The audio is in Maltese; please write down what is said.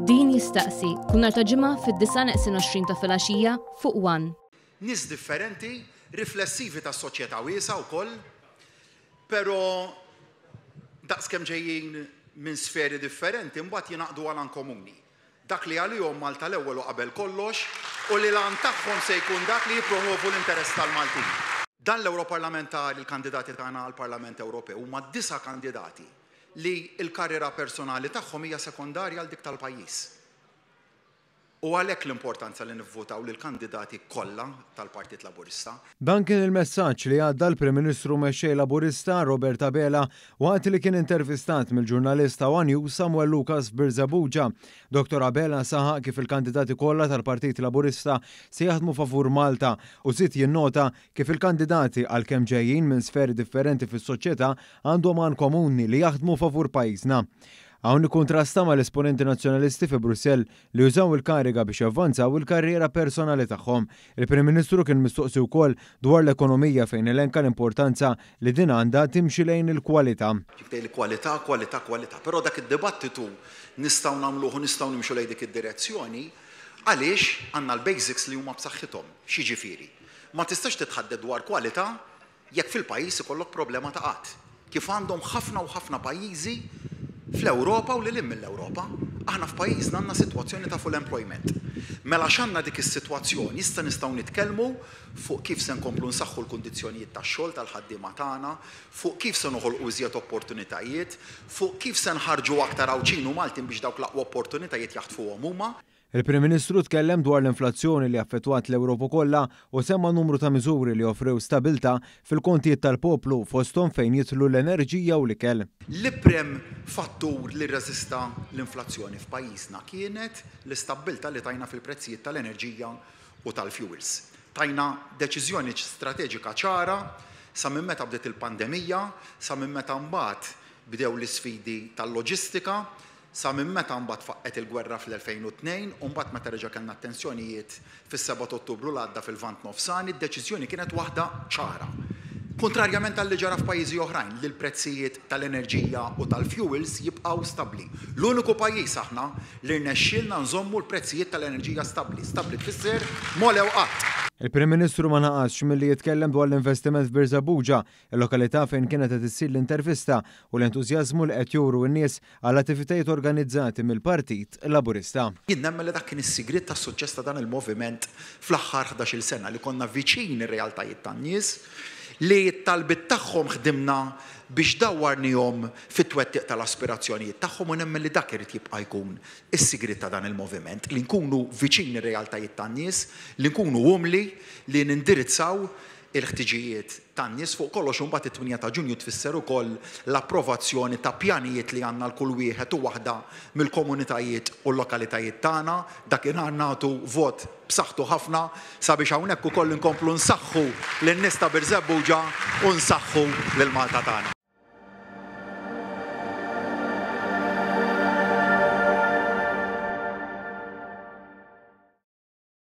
Din jistaqsi, kull nhar ta' ġimgħa fid-disa' neqsin 20 ta' filgħaxija fuq one. Nies differenti, riflessivi ta' soċjetà wiesgħa wkoll, però daqskemm ġejjin minn sferi differenti mbagħad jingħaqdu għal għan komuni. dak li għalihom Malta l-ewwel u qabel kollox u li l-għan tagħhom se jkun dak li jippromwovu l-interess tal-Maltin. Dan l-Ewroparlamentari l-kandidati tagħna għall-Parlament Ewropew huma disa' kandidati li l-karriera personali tagħhom hija sekondarja għal dik tal-pajjiż. U għalhekk l-importanza li nivvutaw lill-kandidati kollha tal-Partit Laburista. Dan kien il-messaġġ li għadda l-Prim Ministru Mexxej Laburista, Robert Abela, waqt li kien intervistat mill-ġurnalist ta' one News Samuel Lucas f'Birżebbuġa. Dottor Abela saħaq kif il-kandidati kollha tal-Partit Laburista se jaħdmu favur Malta u żied jinnota kif il-kandidati għalkemm ġejjin minn sferi differenti fis-soċjetà għandhom għan komuni li jaħdmu favur pajjiżna. Hawn ikkuntrasta mal-esponenti Nazzjonalisti fi Brussell li jużaw il-kariga biex javvanzaw il-karriera personali tagħhom. Il-Prim Ministru kien mistoqsi wkoll dwar l-ekonomija fejn elenka l-importanza li din għandha timxi lejn il-kwalità. Jiktei l-kwalità, kwalità, kwalità. Però dak id-dibattitu nistgħu nagħmluh u nistgħu nimxu lejn dik id-direzzjoni għaliex għandna l-basics li huma b'saħħithom. X'jiġifieri? Ma tistax titħadded dwar kwalità jekk fil-pajjiż ikollok problema ta' qgħad, kif għandhom ħafna u ħafna pajjiżi fl-Ewropa u lil hinn mill-Ewropa, aħna f'pajjiżna għandna sitwazzjoni ta' full employment. Mela għax għandna dik is-sitwazzjoni, issa nistgħu nitkellmu fuq kif se nkomplu nsaħħu l-kundizzjonijiet tax-xogħol tal-ħaddiema tagħna, fuq kif se noħolqu iżjed opportunitajiet, fuq kif se nħarrġu aktar Għawdxin u Maltin biex dawk l-aqwa opportunitajiet jaħtfuhom huma. Il-Prim Ministru tkellem dwar l-inflazzjoni li affettwat l-Ewropa kollha u semma numru ta' miżuri li offrew stabilta' fil-kontijiet tal-poplu fosthom fejn jidħlu l-enerġija u l-ikel. L-iprim fattur li rreżista l-inflazzjoni f'pajjiżna kienet l-istabbilta' li tajna fil-prezzijiet tal-enerġija u tal-fjuwils. Tajna deċiżjoni strateġika ċara sa minn meta bdiet il-pandemija sa minn meta mbagħad bdew l-isfidi tal-loġistika Sa minn meta mbagħad faqqgħet il-gwerra fl-2002 u mbagħad meta reġa' kellna t-tensjonijiet fis-Seba' t'Ottubru li għadda fil-Lvant Nofsani, d-deċiżjoni kienet waħda ċara. Kuntrarjament għal li ġara f'pajjiżi oħrajn li l-prezzijiet tal-enerġija u tal-fjuwils jibqgħu stabbli. L-uniku pajjiż aħna li rnexxielna nżommu l-prezzijiet tal-enerġija stabbli. Stabbli tfisser m'għolew qatt. Il-Prim Ministru ma naqasx milli jitkellem dwar l-investiment f'Birżebbuġa il-lokalità fejn kienet qed issir l-intervista u l-entużjażmu li qed juru n-nies għall-attivitajiet organizzati mill-Partit Laburista. Jien nemmen li dak kien is-sigriet tas-suċċess ta' dan il-moviment fl-aħħar ħdax-il sena, li konna viċin ir-realtajiet tan-nies, li t-talbiet tagħhom ħdimna biex dawwarnihom fit-twettiq tal-aspirazzjonijiet tagħhom u nemmen li dak irid jibqa' jkun is-sigriet ta' dan il-moviment, li nkunu viċin ir-realtajiet tan-nies, li nkunu umli, li nindirizzaw il-ħtiġijiet tan-nies, fuq kollox imbagħad it-tminja ta' Ġunju tfisser ukoll l-approvazzjoni ta' pjanijiet li għandna għal kull wieħed u waħda mill-komunitajiet u l-lokalitajiet tagħna. Dakinhar nagħtu vot b'saħħtu ħafna sabiex hawnhekk ukoll inkomplu nsaħħu lin-nies ta' Birżebbuġa u nsaħħu lil Malta tagħna.